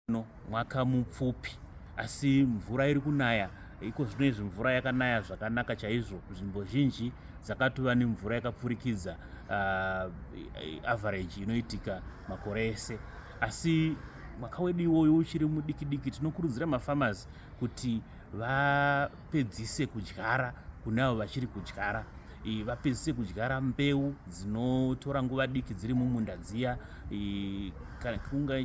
no mwaka mupfupi asi mvura iri kunaya iko zvino izvi mvura yakanaya zvakanaka chaizvo nzvimbo zhinji dzakatova nemvura yakapfurikidza uh, average inoitika makore ese asi mwaka wedu iwoyo uchiri mudiki diki tinokurudzira mafarmers kuti va vapedzise kudyara kune avo vachiri kudyara vapedzise kudyara mbeu dzinotora nguva diki dziri mumunda dziya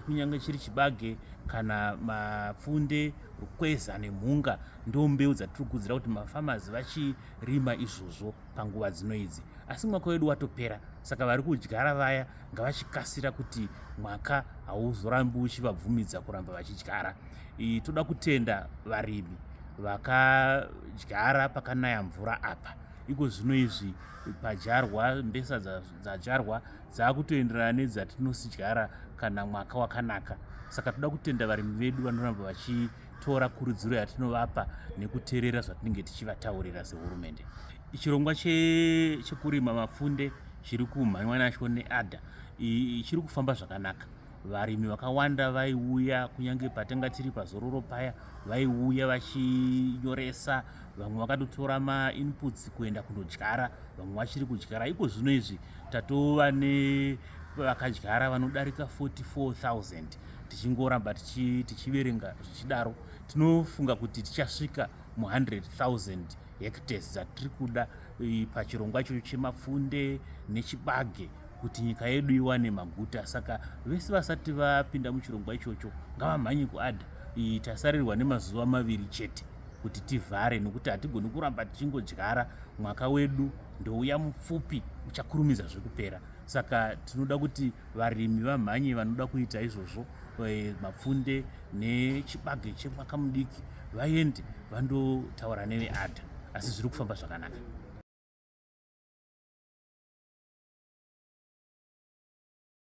kunyange chiri chibage kana mapfunde rukweza nemhunga ndo mbeu dzatiri kuudzira kuti mafamazi vachirima izvozvo panguva dzino idzi asi mwaka wedu watopera saka vari kudyara vaya ngavachikasira kuti mwaka hauzorambi uchivabvumidza kuramba vachidyara toda kutenda varimi vakadyara pakanaya mvura apa iko zvino izvi padyarwa mbesa dzadyarwa dzaakutoenderana nedzatinosidyara kana mwaka wakanaka saka toda kutenda varimi vedu vanoramba vachitora kurudziro yatinovapa nekuterera zvatinenge tichivataurira sehurumende chirongwa chekurima mapfunde chiri kumhanywa nacho neada chiri kufamba zvakanaka varimi vakawanda vaiuya kunyange patanga tiri pazororo paya vaiuya vachinyoresa vamwe vakatotora mainputs kuenda kunodyara vamwe vachiri kudyara iko zvino izvi tatova nevakadyara vanodarika 44000 tichingoramba tichiverenga zvichidaro tinofunga kuti tichasvika mu 100000 hectares dzatiri kuda eh, pachirongwa ichocho chemapfunde nechibage kuti nyika yedu iwane maguta saka vese vasati vapinda muchirongwa ichocho ngavamhanyi kuada eh, tasarirwa nemazuva maviri chete kuti tivhare nokuti hatigoni kuramba tichingodyara mwaka wedu ndouya mupfupi uchakurumidza zvekupera saka tinoda kuti varimi vamhanye vanoda kuita izvozvo eh, mapfunde nechibage chemwaka mudiki vaende vandotaura neveadha asi zviri kufamba zvakanaka